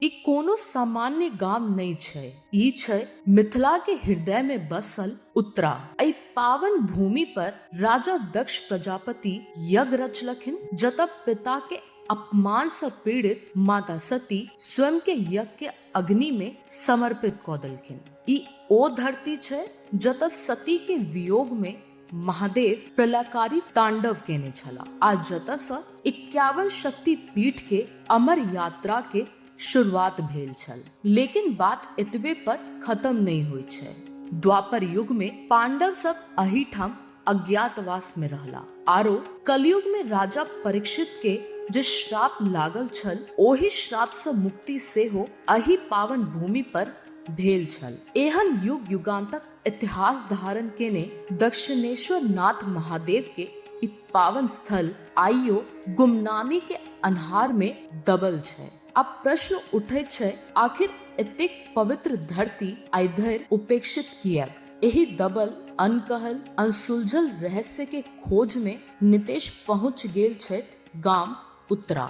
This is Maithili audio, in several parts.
ई कोनो सामान्य गाम नहि छै। ई छै मिथिला के हृदय मे बसल उत्तरा। एहि पावन भूमि पर राजा दक्ष प्रजापति यज्ञ रचलखिन जतय पिता के अपमान सँ पीड़ित माता सती स्वयं के यज्ञ के अग्नि मे समर्पित कऽ देलखिन। ई ओ धरती छै जतय सती के वियोग मे महादेव प्रलयकारी तांडव केने छला आ जतऽ से इक्यावन शक्ति पीठ के अमर यात्रा के शुरुआत भेल छल लेकिन बात एतबे पर खत्म नहीं होइ छै द्वापर युग में पांडव सब अहिठाम अज्ञातवास में रहला आरो कलयुग में राजा परीक्षित के जे श्राप लागल छल ओहि श्राप से मुक्ति सेहो अहि पावन भूमि पर भेल छल एहन युग युगांतक इतिहास धारण केने दक्षिणेश्वर नाथ महादेव के ई पावन स्थल आइयो गुमनामी के अन्हार में दबल छै अब प्रश्न उठे छै आखिर एतेक पवित्र धरती आइधर उपेक्षित कियक एही दबल अनकहल अनसुलझल रहस्य के खोज में नितेश पहुंच गेल छथि गाम उत्तरा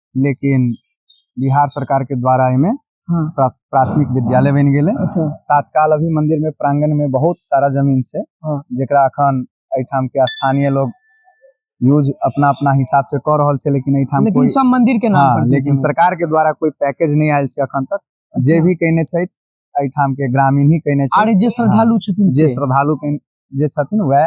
लेकिन बिहार सरकार के द्वारा एमे हाँ। प्रा, प्राथमिक विद्यालय बन गेले अच्छा तत्काल अभी मंदिर में प्रांगण में बहुत सारा जमीन से हाँ। जेकरा अखन एठाम के स्थानीय लोग यूज अपना अपना हिसाब से कर रहल छै लेकिन एठाम लेकिन कोई सब मंदिर के नाम हाँ, पर लेकिन जमीन। सरकार के द्वारा कोई पैकेज नहीं आयल छै अखन तक जे भी कहने छै एठाम के ग्रामीण ही कहने छै आर जे श्रद्धालु छथिन जे से। श्रद्धालु के जे छथिन वह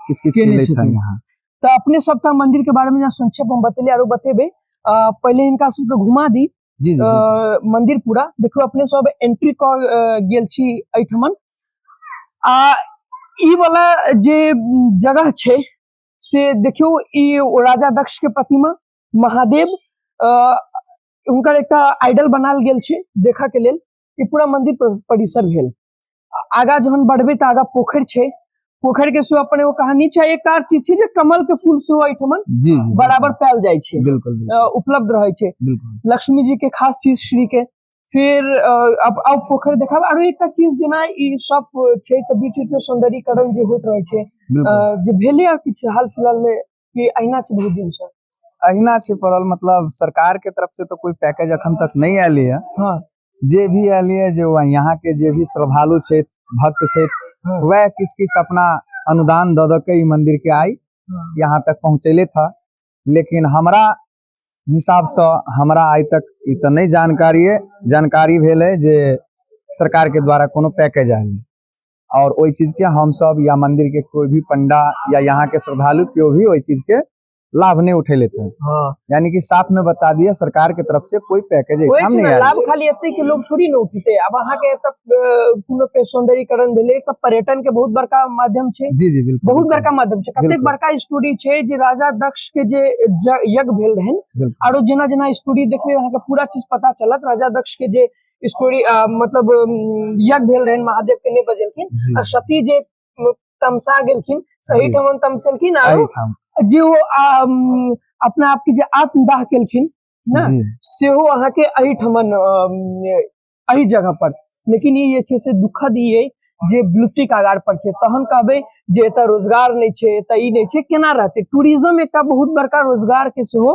किस किस के केने लिए था छथिन। यहाँ तऽ अपने सबटा मंदिर के बारे में यहाँ संक्षेप में बतेली आरो बतेबे अ, पहले इनका सबके घुमा दी जी जी अ, बिल्कुल। मंदिर पूरा देखो अपने सब एंट्री क अ, गेल छी एठमन आ ई वाला जे जगह छै से देखियो ई ओ राजा दक्ष के प्रतिमा महादेव अ, हुनकर एकटा आइडल बनाल गेल छै देखा के लेल ई पूरा मंदिर पर- परिसर भेल आगा जहन बढ़बे तो आगा पोखर छे पोखर के सेहो अपन एगो कहानी छै एक कार की छै जे कमल के फूल सेहो एठमन जी जी बराबर पायल जाय छै बिल्कुल अ, उपलब्ध रहै छै बिल्कुल लक्ष्मी जी के खास चीज श्री के फिर अ, अब अब पोखर देखाब आरो एकटा चीज जेना ई सब छै तऽ बीच बीच में सौंदर्यीकरण जे होइत रहै छै अ, बिल्कुल जे भेलै आ किछु हाल फिलहाल में कि अहिना छै बहुत दिन से अहिना छै पड़ल मतलब सरकार के तरफ से तो कोई पैकेज अखन तक नहीं आयल है हाँ जे भी आयल है जे वह यहाँ के जे भी श्रद्धालु छे भक्त छे हाँ। वह किस किस अपना अनुदान द द के ई मंदिर के आई हाँ। यहाँ तक पहुँचेले था लेकिन हमरा हिसाब से हमरा आइ तक ई तो नहीं जानकारी है जानकारी भेल है जे सरकार के द्वारा कोनो पैकेज आयल है और ओहि चीज के हम सब या मंदिर के कोई भी पंडा या यहाँ के श्रद्धालु केओ भी ओहि चीज के लाभ नहीं उठे लेते हैं हाँ यानी कि साफ में बता दिया सरकार के तरफ से कोई पैकेज कोई एग्जाम चीज नहीं ना, आया लाभ खाली एते के लोग थोड़ी ना उठते अब अहाँ के एतऽ अ, कोनो के सौंदर्यीकरण भेलै तऽ पर्यटन के बहुत बड़का माध्यम छै जी जी बिल्कुल बहुत बड़का माध्यम छै कतेक बिल्कुल। बड़का स्टोरी छै जे राजा दक्ष के जे ज- यज्ञ भेल रहन बिल्कुल। आरो जेना जेना स्टोरी देखबै अहाँके पूरा चीज पता चलत राजा दक्ष के जे स्टोरी मतलब यज्ञ भेल रहन महादेव के नहीं बजेलखिन आ सती जे तमसा गेलखिन सही ठमन तमसेलखिन आ जे वो अपना आप के जे आत्मदाह केलखिन ना सेहो अहाँ के अही ठमन अही जगह पर लेकिन ये छे से दुखद ई है जे विलुप्ति कागार पर छे तहन कहबे जे एतऽ रोजगार नहीं छे एतऽ ई नहीं छे केना रहते टूरिज्म एक बहुत बड़का रोजगार के सेहो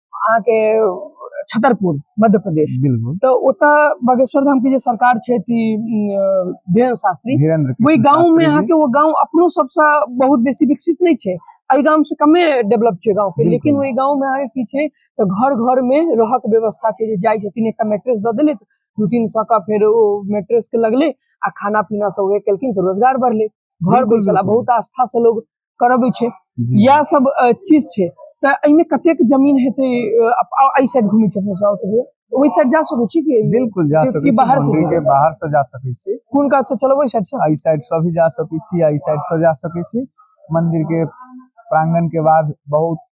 अहाँके छतरपुर मध्य प्रदेश बिल्कुल तो ओता बागेश्वर धाम के जे सरकार छै ती धीरेन्द्र शास्त्री धीरेन्द्र वही कृष्ण गांव में शास्त्री यहाँ जी। के वो गांव अपनो सबसे बहुत बेसी विकसित नहीं छै एहि गांव से कमे डेवलप छै गांव के बिल्कुल। लेकिन वही गांव में अहाँके की छै तो घर घर में रहऽ के व्यवस्था छै जे जाइ छथिन एकटा मैट्रेस दऽ देले दू तीन सौ का फेर ओ मैट्रेस के लगले आ खाना पीना सब उहे केलखिन तो रोजगार बढ़ले घर बिल्कुल, बैसल आ बिल्कुल। बहुत आस्था से लोग करबै छै जी इएह सब अ, चीज छै तऽ एहिमे कतेक जमीन हेतै अ, अप- आ- एहि साइड घुमै छै अपने सब ओतबे ओहि साइड जा सकै छी कि बिल्कुल जा कि- सकै कि छी बाहर से बाउंड्री के जाएब? बाहर से जा सकै छी कोन काज से चलब ओहि साइड से एहि साइड से भी जा सकै छी एहि साइड से जा सकै छी मंदिर के प्रांगण के बाद बहुत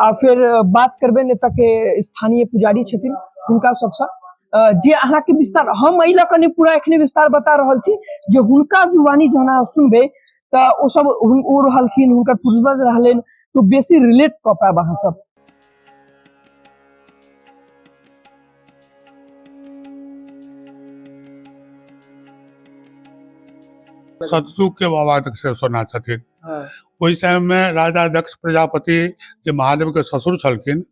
आ फिर बात करबे ने तक स्थानीय पुजारी छथिन हुनका सबसँ जे अहाँके विस्तार हम एहि लऽ कऽ नहि पूरा एखने विस्तार बता रहल छी जे हुनका जुबानी जहन अहाँ सुनबै तऽ ओ सब ओ रहलखिन हुनकर पूर्वज रहलनि तो बेसी रिलेट कऽ पायब अहाँ सब सतयुग के बाबा तक से सोना छथिन हँ, ओहि समयमे राजा दक्ष प्रजापति जे महादेवके ससुर छलखिन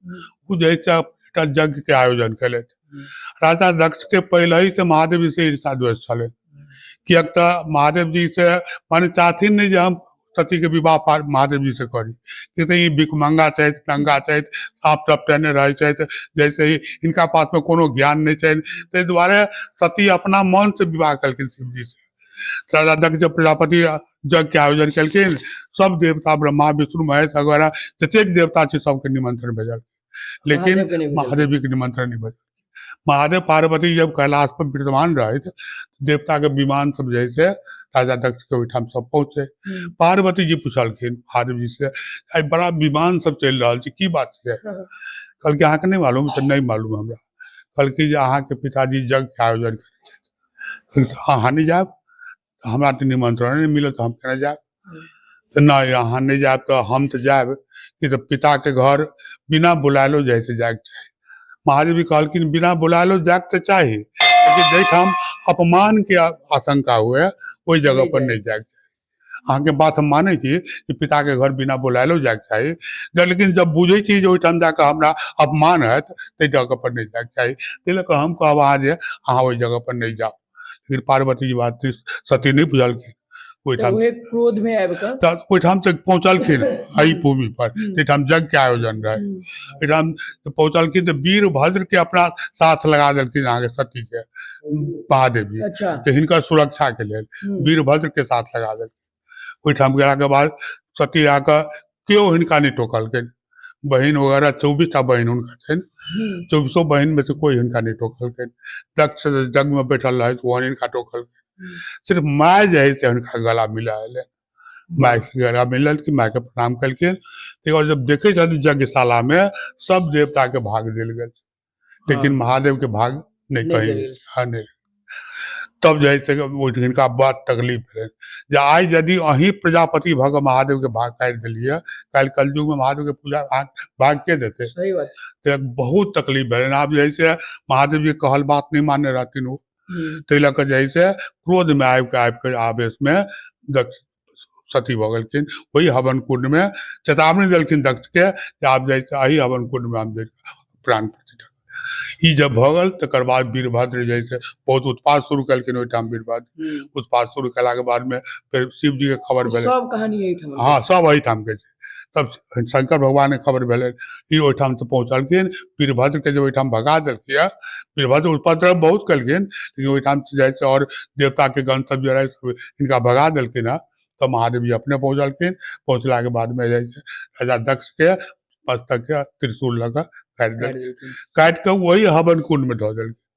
ओ जे है से एकटा यज्ञके आयोजन केलथि हम्म। राजा दक्षके पहिलहि से महादेव से ईर्षा द्वेष छलै किएक तऽ महादेव जी से माने चाहथिन नहि जे हम सतीके विवाह पार महादेव जी से करी कि तऽ ई भिकमंगा छथि नंगा छथि साफ टपटेने रहै छथि जैसे ही हिनका पासमे कोनो ज्ञान नहि छनि ताहि दुआरे सती अपना मन से विवाह केलखिन शिवजी से शारदा दक्ष प्रजापति यज्ञ के आयोजन केलखिन सब देवता ब्रह्मा विष्णु महेश वगैरह जतेक देवता छै सबके निमंत्रण भेजल लेकिन महादेव के नहि भेजल। महादेव जी के निमंत्रण नहीं भेजल महादेव पार्वती जब कैलाश पर विद्यमान रहे थे, देवता के विमान सब जैसे राजा दक्ष के ओहिठाम सब पहुंचे हम्म। पार्वती जी पूछलखिन महादेव जी से आई बड़ा विमान सब चल रहा छै की बात छै हाँ। कहलकै अहाँके नहीं मालूम तऽ नहीं मालूम हमरा कहलकै जे अहाँके पिताजी यज्ञ के आयोजन अहाँ नहि जायब तऽ हमरा तऽ निमन्त्रण नहि मिलत हम केना जायब तऽ नहि अहाँ नहि जायब तऽ हम तऽ जायब कि तऽ पिताके घर बिना बुलायलो जाइ से जायके चाही महादेवी कहलखिन बिना बुलायलो जायके तऽ चाही लेकिन जाहिठाम अपमानके आ- आशंका हुए ओहि जगह पर नहि जायके चाही अहाँके बात हम मानै छी कि पिताके घर बिना बोलायलो जायके चाही जब लेकिन जब बुझै छी जे ओहिठाम जा कऽ हमरा अपमान हैत ताहि जगह पर नहि जायके चाही ताहि लऽ कऽ हम कहब अहाँ जे अहाँ ओहि जगह पर नहि जाउ लेकिन पार्वती जी बात सती नहि बुझलखिन ओहिठाम क्रोध मे आबि कऽ तऽ ओहिठाम तक पहुँचलखिन एहि भूमि पर एहिठाम यज्ञ के आयोजन रहे एहिठाम पहुँचलखिन तऽ वीर भद्र के अपना साथ लगा देलखिन अहाँके सती के महादेव जी अच्छा। तऽ हिनकर सुरक्षा के लेल हम्म। वीरभद्र के साथ लगा देलखिन ओहिठाम गेला के बाद सती आके केओ हिनका नहि टोकलखिन बहिन वगैरह चौबीस टा बहिन हुनका छनि हम्म। चौबीसो बहिन में से कोई हिनका नहीं टोकलखिन दक्ष जग में बैठल रहे तो ओहन हिनका टोकलखिन हम्म। सिर्फ माय जे है से हुनका गला मिला एलै माय से गला मिलल कि माय के प्रणाम केलखिन तकर बाद जब देखे छथिन यज्ञशाला में सब देवता के भाग देल गेल लेकिन हाँ। महादेव के भाग नहीं कही हाँ नहीं तब जे से हिनका बड़ा तकलीफ है जे आइ यदि अही प्रजापति भऽ कऽ महादेव के भाग काटि देलियै कल कलयुग में महादेव के पूजा भाग के देते तो बहुत तकलीफ भेल आब जे से महादेव जी कहल बात नहीं मानने रहथिन ओ हम्म। ताहि लऽ कऽ जे से क्रोध में आबि कऽ आबि कऽ आवेश में सती भऽ गेलखिन ओहि हवन कुण्डमे चेतावनी देलखिन दत्तके जे आब जाइ एहि हवन कुण्डमे हम जाइ प्राण प्रतिष्ठा ई जब भऽ गेल तकर बाद वीरभद्र जे छै बहुत उत्पाद शुरू केलखिन ओहिठाम वीरभद्र हम्म। उत्पाद शुरू केलाके बादमे फेर शिवजीके खबर भेलै सब कहानी एहिठाम हँ सब एहिठामके छै तब शंकर भगवानके खबर भेलै ई ओहिठाम तऽ पहुँचलखिन वीरभद्रके जे ओहिठाम भगा देलकै यऽ वीरभद्र उपद्रव बहुत केलखिन लेकिन ओहिठाम से जाइ छै आओर देवताके गण सब जे रहै से हिनका भगा देलखिन हँ तऽ महादेव जी अपने पहुँचलखिन पहुँचलाके बादमे जाइ छै राजा दक्षके मस्तकके त्रिशूल लऽ कऽ काटि देलखिन काटि कऽ ओहि हवन कुण्डमे धऽ देलखिन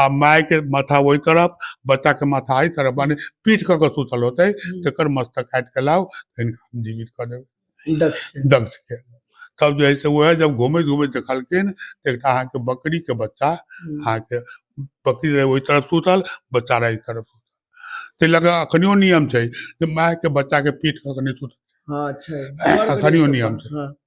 आ माय के माथा ओहि तरफ बच्चा के माथा एहि तरफ माने पीठ कऽ के सुतल होते हम्म। तेकर मस्तक काट के लाओ तऽ हिनका हम जीवित कऽ देबै दक्ष के। दक्ष के तब जे है से वह जब घूमैत घूमैत देखलखिन तऽ एकटा अहाँके बकरी के बच्चा हम्म। अहाँके बकरी रहे ओहि तरफ सुतल बच्चा रहे एहि तरफ सुतल ताहि लऽ कऽ अखनियो नियम छै जे माय के बच्चा के पीठ कऽ के नहि सुतल हाँ छै अखनियो नियम छै। हाँ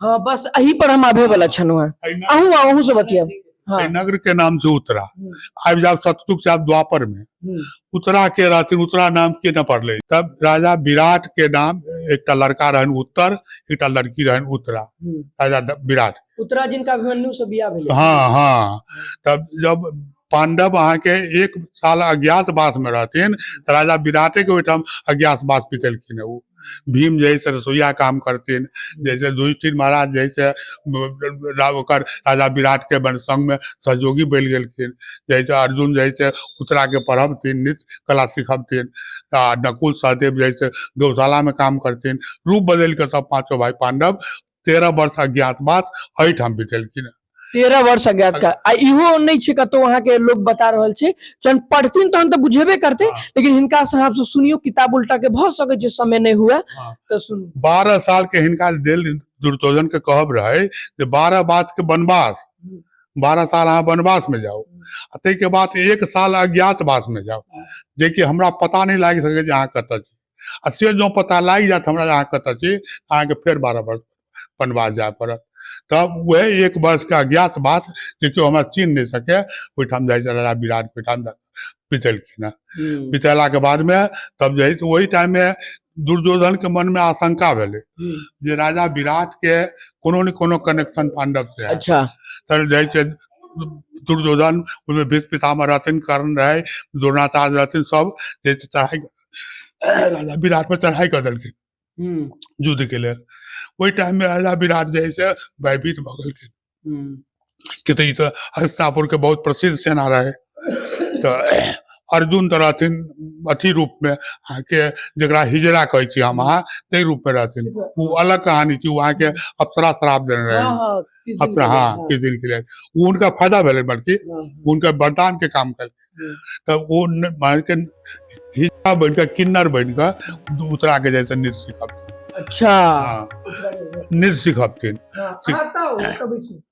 हाँ बस अही पर हम आबे वाला छनु है एहि अहू आ अहू से बतियाब हाँ एहि नगर के नाम से उतरा हम्म। आबि जाओ सतयुग से आब द्वापर में हम्म, उतरा के रहथिन उतरा नाम के न पड़ले तब राजा विराट के नाम एकटा लड़का रहन उत्तर एकटा लड़की रहन उत्तरा हम्म। राजा द- विराट उत्तरा जिनका अभिमन्यु से बियाह भेलै हाँ हाँ तब जब पाण्डव अहाँके एक साल अज्ञातवासमे रहथिन तऽ राजा विराटेके ओहिठाम अज्ञातवास बितेलखिन ओ भीम जे है से रसोइया काम करथिन जैसे युधिष्ठिर महाराज जे है से ओकर राजा विराटके बन संगमे सहयोगी बनि गेलखिन जैसे अर्जुन जे है से उत्तराके पढ़बथिन नृत्य कला सिखबथिन आ नकुल सहदेव जे है से गौशालामे काम करथिन रूप बदलि कऽ सब पाँचो भाय पांडव तेरह वर्ष अज्ञातवास एहिठाम बितेलखिन तेरह वर्ष अज्ञात का आ इहो नहि छै कतौ अहाँ के लोग बता रहल छै जहन पढ़थिन तहन तऽ बुझेबे करते हाँ। लेकिन हिनका से अहाँ से सुनियो किताब उल्टा के भ सके छै समय नहि हुए हाँ। तऽ सुनू बारह साल के हिनका देल दुर्योधन के कहब रहे जे बारह बात के वनवास बारह साल अहाँ वनवास में जाओ आ ताहिके बाद एक साल अज्ञातवास में जाओ जेकि हमरा पता नहि लागि सकै जे अहाँ कतऽ छी आ से जँ पता लागि जायत हमरा अहाँ कतऽ छी अहाँके फेर बारह वर्ष वनवास जाय पड़त तब वह एक वर्ष का ज्ञात बात जे केओ हमरा चिन्ह नहि सके ओहिठाम जाइ छै राजा विराटके ओहिठाम बितेलखिन हँ हम्म, बितेलाके बादमे तब जे है से ओहि टाइममे दुर्योधनके मनमे आशंका भेलै हम्म, जे राजा विराटके कोनो ने कोनो कनेक्शन पांडवसँ है अच्छा तर जाइ छै दुर्योधन ओहिमे भीष्म पितामह रहथिन कर्ण रहै द्रोणाचार्य रहथिन सब जे छै चढ़ाइ राजा विराट पर चढ़ाई कर देलखिन हम्म, युद्ध के लेल ओहि टाइम में राजा विराट जे है से भयभीत भऽ गेलखिन हम्म, कि तऽ ई तऽ हस्तापुर के बहुत प्रसिद्ध सेना रहे तऽ अर्जुन तऽ रहथिन अथी रूप में अहाँके जकरा हिजरा कहै छी हम अहाँ ताहि रूप में रहथिन ओ अलग कहानी छी ओ अहाँके अप्सरा श्राप देने रहे हाँ, हाँ, अपना हाँ किछु दिन के लिए ओ हुनका फायदा भेलै बल्कि हाँ, हाँ। हुनकर वरदान के काम कल तब ओ न- मानि के हिस्सा बनि कऽ किन्नर बनि कऽ उतरा के जाइ छै नृत्य सिखबथिन अच्छा हाँ, नृत्य सिखबथिन हाँ, सिख- आता हो, कभी सुन।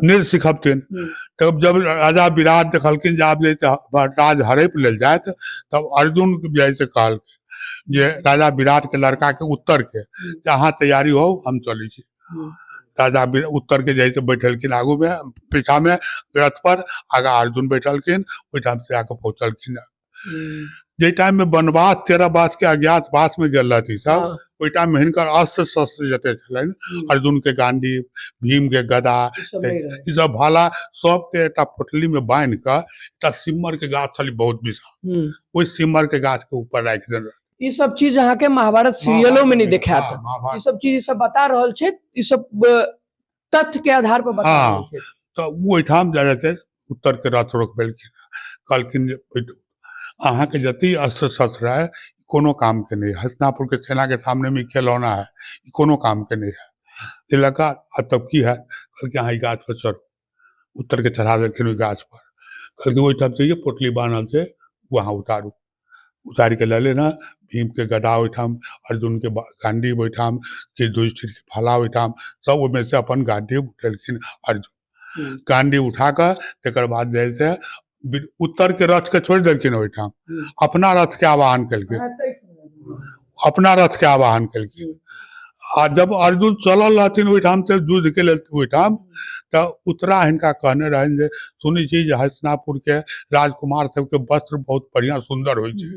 नृत्य सिखबथिन हम्म। तब जब राजा विराट देखलखिन जे आब जे छै हमर राज हड़ैप लेल जायत तब अर्जुन के जाइ से कहलखिन जे राजा विराट के लड़का के उत्तर के जे अहाँ तैयारी हो हम चलै छी राजा बि- उत्तर के जाय से बैठलखिन आगू में पीछा में रथ पर आगा अर्जुन बैठलखिन ओहिठाम से आके पहुंचलखिन जाहि टाइम में वनवास तेरह वास के अज्ञात वास में गेल रहती सब हाँ, ओहि टाइम में हिनकर अस्त्र शस्त्र जते छलनि हम्म, अर्जुन के गांडी भीम के गदा ई सब नहीं रहे। ई सब भाला सबके एकटा पोटली में बांधि कऽ एकटा सिम्मर के गाछ छलै बहुत विशाल हम्म, ओहि सिम्मर के गाछ के ऊपर राखि देने रहै। ई सब चीज अहाँ के महाभारत सीरियलो में नहीं महाभारत देखात हाँ, महाभारत। ई सब चीज ई सब बता रहल छै ई सब अ, तथ्य के आधार पर बता हाँ। रहल छै तऽ ओ ओहिठाम जा रहतै उत्तरके रथ रोकबेलखिन कहलखिन जे ओहि- अहाँके जतेक अस्त्र शस्त्र है ई कोनो कामके नहि है हसनापुरके सेनाके सामनेमे ई खेलौना है ई कोनो कामके नहि है ताहि लऽ कऽ आ तब की है कहलकै अहाँ ई गाछपर चढ़ू उत्तरके चढ़ा देलखिन ओहि गाछपर कहलखिन ओहिठाम से जे पोटली बान्हल छै ओ अहाँ उतारू उतारि कऽ लेले ने भीमके गदा ओहिठाम अर्जुनके गांडी ओहिठाम के युधिष्ठिरके भाला ओहिठाम सब ओहिमे से अपन गांडी उठेलखिन अर्जुन हम्म। गांडी उठा कऽ तकर बाद जे है से उत्तर के रथ के छोड़ देलखिन ओहिठाम अपना रथ के आवाहन केलखिन अपना रथ के आवाहन केलखिन आ जब अर्जुन चलल रहथिन ओहिठाम से युद्ध के लेल ओहिठाम तऽ उत्तरा हिनका कहने रहनि जे सुनै छी जे हसनापुर के राजकुमार सबके वस्त्र बहुत बढ़िया सुंदर होइ छै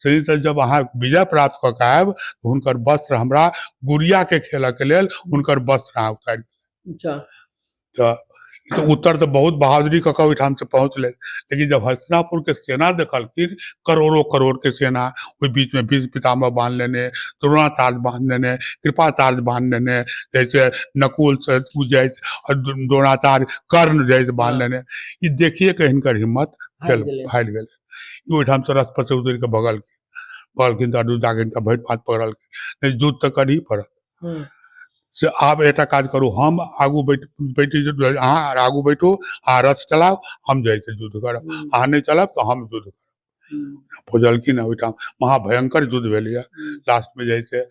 से तऽ जब अहाँ विजय प्राप्त कऽ के आयब तऽ हुनकर वस्त्र हमरा गुड़िया के खेलऽ के लेल हुनकर वस्त्र अहाँ उतारि अच्छा तऽ ई तऽ उत्तर तऽ बहुत बहादुरी कऽ कऽ ओहिठाम से पहुँचलै लेकिन जब हस्तिनापुरके सेना देखलखिन करोड़ो करोड़के सेना ओहि बीचमे भीष्म पितामह बान्ह लेने द्रोणाचार्य बान्ह लेने कृपाचार्य बान्ह लेने जैसे नकुल से तू जाइ आ द्रो- द्रोणाचार्य कर्ण जाइ बान्ह लेने ई देखिए के हिनकर हिम्मत हारि भेल गेलै। हारि गेल ई ओहिठाम से रथ पर से उतरि कऽ भगलखिन भगलखिन तऽ अडू जाके हिनका भरि पात पकड़लखिन नहि युद्ध तऽ करही पड़त हम्म। से आब एकटा काज करू हम आगू बैठ बैठ अहाँ आगू बैठू अहाँ रथ चलाउ हम जाइ छी युद्ध करब हम्म। अहाँ नहि चलब तऽ हम युद्ध करब हम्म। बुझलखिन ओहिठाम महाभयंकर युद्ध भेलैए लास्टमे जाइ छै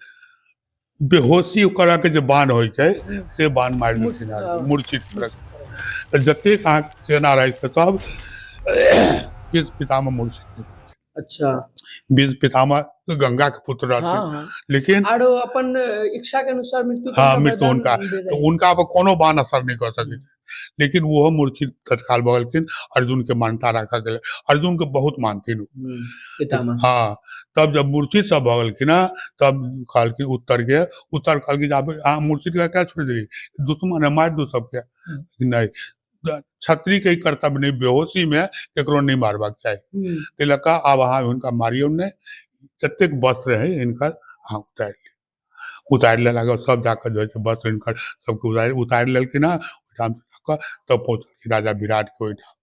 बेहोशी करऽके जे बाण होइ छै से बाण मारि देलखिन अहाँके, मूर्छित करऽके तऽ जतेक अहाँके सेना रहै छै सब किस पितामे मूर्छित अच्छा बीज पितामह गंगा के पुत्र रहथिन हाँ हाँ लेकिन आरो अपन इच्छा के अनुसार मृत्यु के हाँ, समय मृत्यु दान उनका। दे रहे। तो उनका पर कोनो बान असर नहीं कर सके लेकिन वो मूर्छित तत्काल भगलखिन अर्जुन के मान्यता रखा गेल अर्जुन के बहुत मानथिन उ। हम्म, पितामह हाँ तब जब मूर्छित सब भगलखिन हँ, तब कहलखिन उत्तर के उत्तर कहलखिन जे आप अहाँ मूर्छित के क्या छोड़ देली दुश्मन है मार दू सबके हम्म। नहीं क्षत्रियके ई कर्तव्य नहि बेहोशीमे ककरो नहि मारबाक चाही हम्म, ताहि लऽ कऽ आब अहाँ हुनका मारियौ नहि जतेक वस्त्र रहै हिनकर अहाँ उतारि लिअ उतारि लेलाके बाद सभ जाकऽ जे होइ छै वस्त्र हिनकर सभके उतारि उतारि लेलखिन हँ ओहिठाम लऽ कऽ तब पहुँचलखिन राजा विराटके ओहिठाम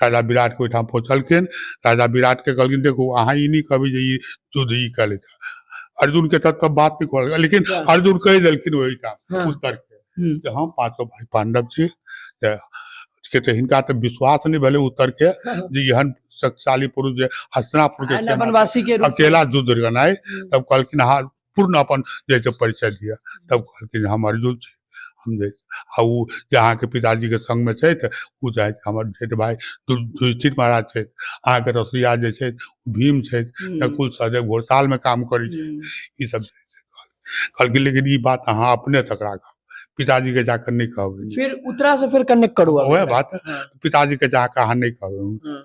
राजा विराटके ओहिठाम पहुँचलखिन राजा विराटके कहलखिन देखू अहाँ ई नहि कहबै जे ई युद्ध ई कयलथि अर्जुनके तब तब बात नहि कहल लेकिन अर्जुन कहि देलखिन ओहिठाम हँ। उत्तरके जे हम पाँचो भाई पांडव छी जे के तऽ हिनका तऽ विश्वास नहि भेलै उत्तर के जे एहन शक्तिशाली पुरुष जे हस्तिनापुर के आ सेना वनवासी के रूप में। अकेला युद्ध करनाइ तब कहलखिन अहाँ पूर्ण अपन जे छै परिचय दिअ तब कहलखिन जे हम अर्जुन छी हम जे आ ओ जे अहाँके पिताजी के संग में छथि ओ जे अछि हमर जेठ भाई दु- युधिष्ठिर महाराज छथि अहाँके रसोईया जे छथि ओ भीम छथि हम्म, नकुल सहदेव घोड़ताल में काम करै छथि हम्म। ई सब जे छै से कहलखिन। कहलखिन लेकिन ई बात अहाँ अपने तक राखब पिताजी के जाकर नहीं कहब फिर उतरा से फिर कनेक्ट करू वह बात हाँ। पिताजी के जाकर अहाँ नहीं कहब हाँ।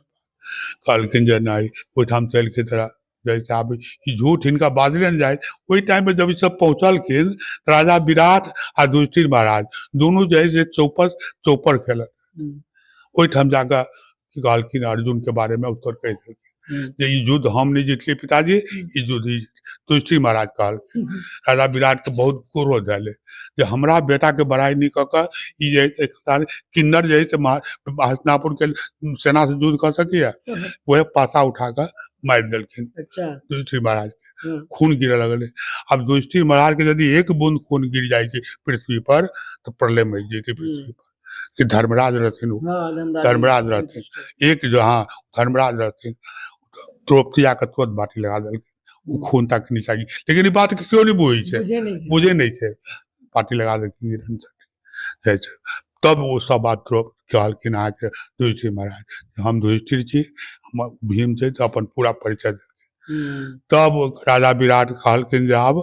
कहलखिन जे नहीं ओहिठाम से एलखिन तोरा जैसे आब ई झूठ हिनका बाजले ने जाए ओहि टाइम में जब ई सब पहुंचलखिन राजा विराट आ युधिष्ठिर महाराज दोनों जो है से चौपस चौपर खेलक ओहिठाम जाकऽ की कहलखिन अर्जुनके बारेमे उत्तर कहि देलखिन जे ई युद्ध हम नहि जीतलियै पिताजी ई युद्ध ई तुष्टि महाराज कहलखिन राजा विराटके बहुत क्रोध आयल जे हमरा बेटाके बड़ाइ नहि कऽ कऽ ई जे है से एकतार किन्नर जे है से महा- हस्तिनापुरके सेना से युद्ध कऽ सकैया वह पासा उठा कऽ मारि देलखिन अच्छा युधिष्ठिर महाराज के हम्म। खून गिरे लगले अब युधिष्ठिर महाराज के यदि एक बूंद खून गिर जाए छै पृथ्वी पर तो प्रलय मच जेते पृथ्वी पर कि धर्मराज रहथिन ओ हाँ, धर्मराज धर्मराज रहथिन। एक जो हाँ धर्मराज रहथिन द्रौपदी आके तुरंत बाटी लगा देलकै ओ खून तक नीचा गिर लेकिन ई बात के केओ नहि बुझै छै बुझे नहीं है। बुझे नहीं थे पार्टी लगा देलखिन ई रंजन जाइ छै। तब ओ सब बात द्रौप कहलखिन अहाँके युधिष्ठिर महाराज जे हम युधिष्ठिर छी हम भीम छै तऽ अपन पूरा परिचय देलखिन हम्म, तब राजा विराट कहलखिन जे आब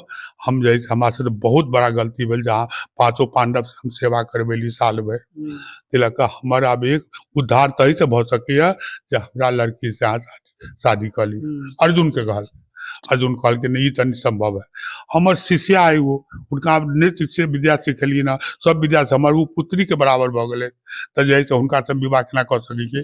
हम जे हमरा से बहुत बड़ा गलती भेल जहाँ पांचों पांडव से हम सेवा करबेली साल भर हम्म, तिलक का हमर अब एक उद्धार तही से भऽ सकैया जे हमरा लड़की से अहाँ शादी- शादी कर ली हम्म, अर्जुन के कहल अर्जुन कहलखिन ई तनी संभव है हमर शिष्या है वो उनका हम नृत्य से विद्या सिखलिए ना सब विद्या से हमर वो पुत्री के बराबर भऽ गेलै तऽ जे है से हुनका से हम विवाह केना कऽ सकै छियै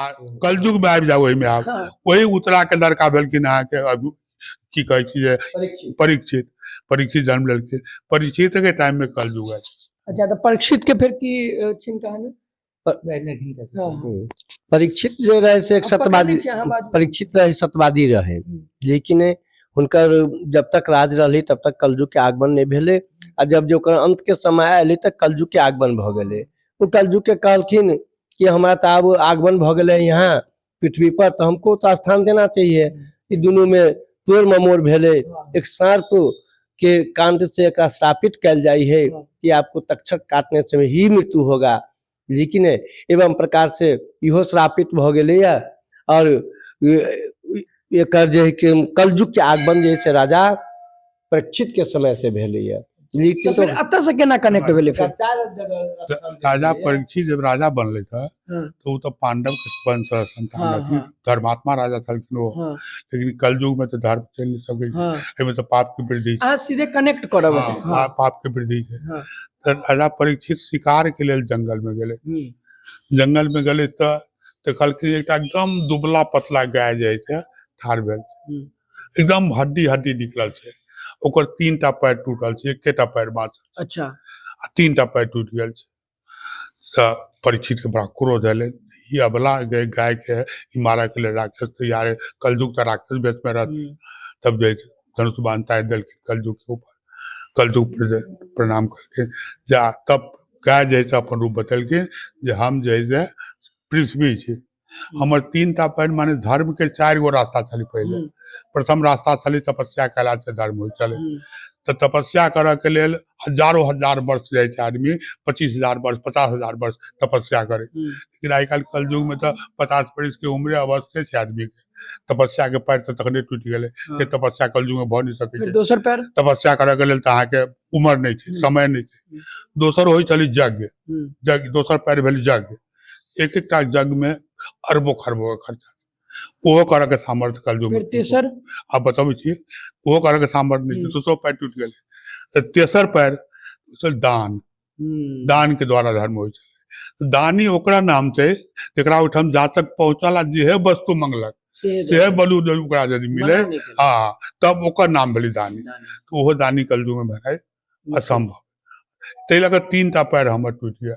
आ कलयुग में आबि जाओ ओहिमे आब हाँ, वही उतरा के लड़का भेलखिन अहाँके अभी की कहै छी जे परीक्षित। परीक्षित परीक्षित जन्म लेलखिन परीक्षित के टाइम में कलयुग है अच्छा तो परीक्षित के फिर की अ, छिन कहानी पर- नहीं, नहीं, ठीक है, ठीक है। हाँ। हम्म। परीक्षित जे रहे से एक अब पकड़ सत्यवादी लीजिए, हाँ, बाजू। परीक्षित रहे सत्यवादी रहे हम्म। लेकिन हुनकर जब तक राज रहली तब तक कलयुग के आगमन नहीं भेले आ जब जो ओकर अंत के समय आयल तक कलयुग के आगमन भ गेले ओ कलयुग के कहलखिन कि हमरा तऽ आब आगमन भऽ गेलै यहाँ पृथ्वी पर तऽ हमको तऽ स्थान देना चाहिए ई दुनू में तोड़ ममोड़ भेलै एक सर्प के कांड से एकरा श्रापित कल जाई है कि आपको तक्षक काटने से ही मृत्यु होगा लेकिन एवं प्रकार से इहो श्रापित भऽ गेलै या और एकर जे है कि कलयुग के आगमन जे है से राजा प्रेक्षित के समय से भेलैया तो लेकिन फिर अतः से केना कनेक्ट भेलै फिर त- राजा परीक्षित जब राजा बनले था हाँ। तो वो तो पांडव के वंश रह संतान हाँ, रहथिन हाँ। धर्मात्मा राजा छलखिन वो हाँ, लेकिन कलयुग में तो धर्म चल नहीं सके हाँ। एहिमे तो पाप के वृद्धि छै अहाँ सीधे कनेक्ट करब हाँ, हाँ, पा- पाप के वृद्धि छै हाँ। तऽ राजा परीक्षित शिकार के लेल जंगल में गेले हम्म, जंगल में गेले तऽ देखलखिन एकटा एकदम दुबला पतला गाय जे छै ठाढ़ भेल छै। हम्म। एकदम हड्डी हड्डी निकलल छै ओकर तीन टा पैर टूटल छै एकेटा पैर बाँचल अच्छा आ तीन टा पैर टूटि गेल छै तऽ परीक्षितके बड़ा क्रोध एलै ई अबला गए गायके ई मारयके लेल राक्षस तैयार है कलयुग तऽ राक्षस बेसमे रहत हम्म, तब जे धनुष बान्ताय देलखिन कलयुग के ऊपर कलयुग पर जे प्रणाम करके जा तब गाय जे है से अपन रूप बतेलखिन जे हम जे है से पृथ्वी छी हमर तीन टा पैन माने धर्म के चारि गो रास्ता छलै पहिले हम्म, प्रथम रास्ता छलै तपस्या कयला से धर्म होइ छलै हम्म, तऽ तपस्या करऽ के लेल हजारो हजार वर्ष जाइ छै आदमी पच्चीस हजार वर्ष पचास हजार वर्ष तपस्या करे हम्म, लेकिन आइ काल्हि कलयुग में तऽ पचास वर्ष के उम्रे अवस्थे छै आदमी के तपस्या के पैर तऽ तखने टूटि गेलै हँ। के तपस्या कलयुग में भऽ नहि सकै फेर छै दोसर पैर तपस्या करऽ के लेल तऽ अहाँके उमर नहि छै हम्म। समय नहि छै दोसर होइ छलै यज्ञ हम्म, यज्ञ दोसर पैर भेल यज्ञ एक एक टा जग में अरबो खरबो के खर्चा ओहो करऽ के सामर्थ्य कल युग फेर में किनको तेसर आप बताबै छी ओहो करऽ के सामर्थ्य नहि छै हम्म। दोसरो पैर टूटि गेलै तऽ तेसर पैर छल दान हम्म, दान के द्वारा धर्म होइ छै तऽ दानी ओकरा नाम छै जेकरा ओहिठाम जातक पहुँचल आ जेहे वस्तु मंगलक सेहे सेहे जरूर। बलू जरूर ओकरा यदि मिले मना नहि केलक। हाँ तब ओकर नाम भेलै दानी दान। तऽ ओहो दानी कलयुग में भेनाइ असंभव ताहि लऽ कऽ तीन टा पैर हमर टूटि गेल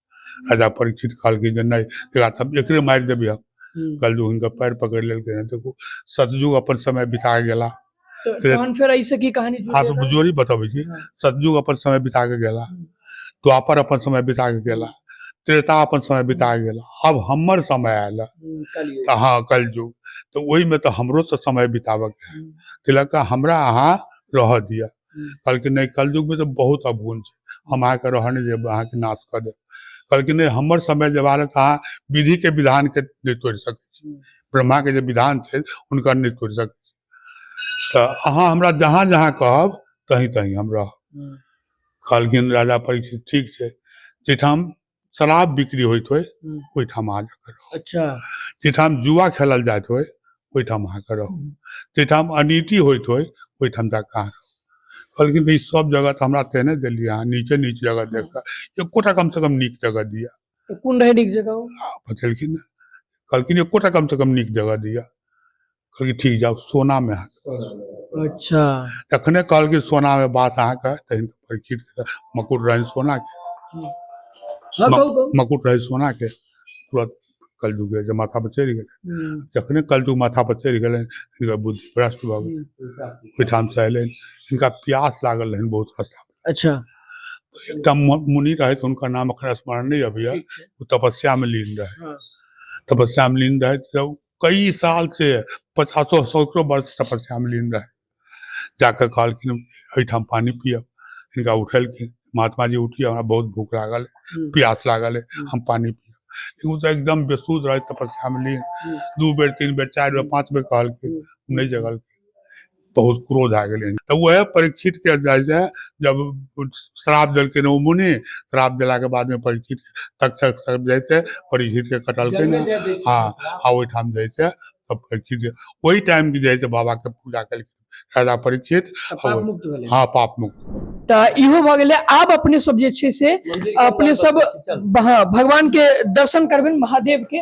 राजा परीक्षित कहलकै जे नहि तेरा तब एकरे मारि देबै हम हम्म। कल जो हुनकर पैर पकड़ि लेलकै हँ देखू सतयुग अपन समय बिता गेला तो तेरे- तहन फेर ऐसे की कहानी जुड़ अहाँ गया? सब जोड़ी बतबै छी हाँ। सतयुग अपन समय बिता के गेला हम्म। द्वापर अपन समय बिता के गेला त्रेता अपन समय बिता के गेला अब हमर समय आयल है। हम्म, कलियुग। तऽ हँ कल युग तऽ ओहिमे तऽ हमरो से समय बिताबऽ के है। हम्म। तिलक हमरा अहाँ रहऽ दिअ कहलखिन नहि कलयुगमे तऽ बहुत अवगुण छै हम अहाँके रहऽ नहि देब अहाँके नाश कऽ देब कहलखिन नहि हमर समय जे बारे तऽ अहाँ विधिके विधानके नहि तोड़ि सकै छी ब्रह्माके जे विधान छै हुनकर नहि तोड़ि सकै छी तऽ अहाँ हमरा जहाँ जहाँ कहब तहीं तहीं हम रहब कहलखिन राजा परीक्षित ठीक छै जाहिठाम शराब बिक्री होइत होय हम्म। ओहिठाम अहाँ जाके रहू अच्छा जाहिठाम जुआ खेलल जाइत होय ओहिठाम अहाँके रहू हम्म। जाहिठाम अनिति होइत होय ओहिठाम जाके अहाँ रहू कहलखिन भाई सब जगह तऽ हमरा तेने देलियै अहाँ नीचे नीच जगह देख कऽ एकोटा कम से कम नीक जगह दिअ तऽ कोन रहै नीक जगह ओ? आ बतेलखिन ने कहलखिन एकोटा कम से कम नीक जगह दिअ कहलकै ठीक जाउ सोनामे अहाँके बास अच्छा तखने कहलकै सोनामे बास अहाँके तहन परिचित मकुट रहनि सोनाके हाँ कहू कहू मकुट रहै सोनाके तुरत कलजुग जे छै माथा पर चढ़ि गेलै हम्म, जखने कलजुग माथा पर चढ़ि गेलनि हिनकर बुद्धि भ्रष्ट भऽ गेल हम्म, ओहिठाम से अयलनि हिनका प्यास लागल रहनि बहुत रास्ता अच्छा एकटा मु- मुनि रहथि हुनकर नाम अखन स्मरण नहि अबैया ठीक छै ओ तपस्या मे लीन रहथि हाँ, तपस्या मे लीन रहथि तऽ कई साल से पचासो सौ सौ वर्ष तपस्या में लीन रहे जाकर कहलखिन एहिठाम पानी पियब हिनका उठेलखिन महात्मा जी उठिए हमरा बहुत भूख लागल है प्यास लागल है हम पानी पियब लेकिन ओ तऽ एकदम बेसुध रहे तपस्या में लीन दू बेर तीन बेर चारि बेर पाँच बेर कहलखिन ओ नहि जगलखिन बहुत क्रोध आ गेलै तऽ उएह परीक्षितके जाइ छै जब श्राप देलकै ओ मुनि श्राप देलाके बादमे परीक्षित तक्षक सब जाइ छै परीक्षितके कटलकै ने हँ आ ओहिठाम जाइ छै तब परीक्षित ओहि टाइम के जाइ छै बाबाके पूजा केलखिन राजा परीक्षित हँ पाप मुक्त तऽ इहो भऽ गेलै आब अपने सब जे छै से अपने सब हँ भगवान के दर्शन करबनि महादेव के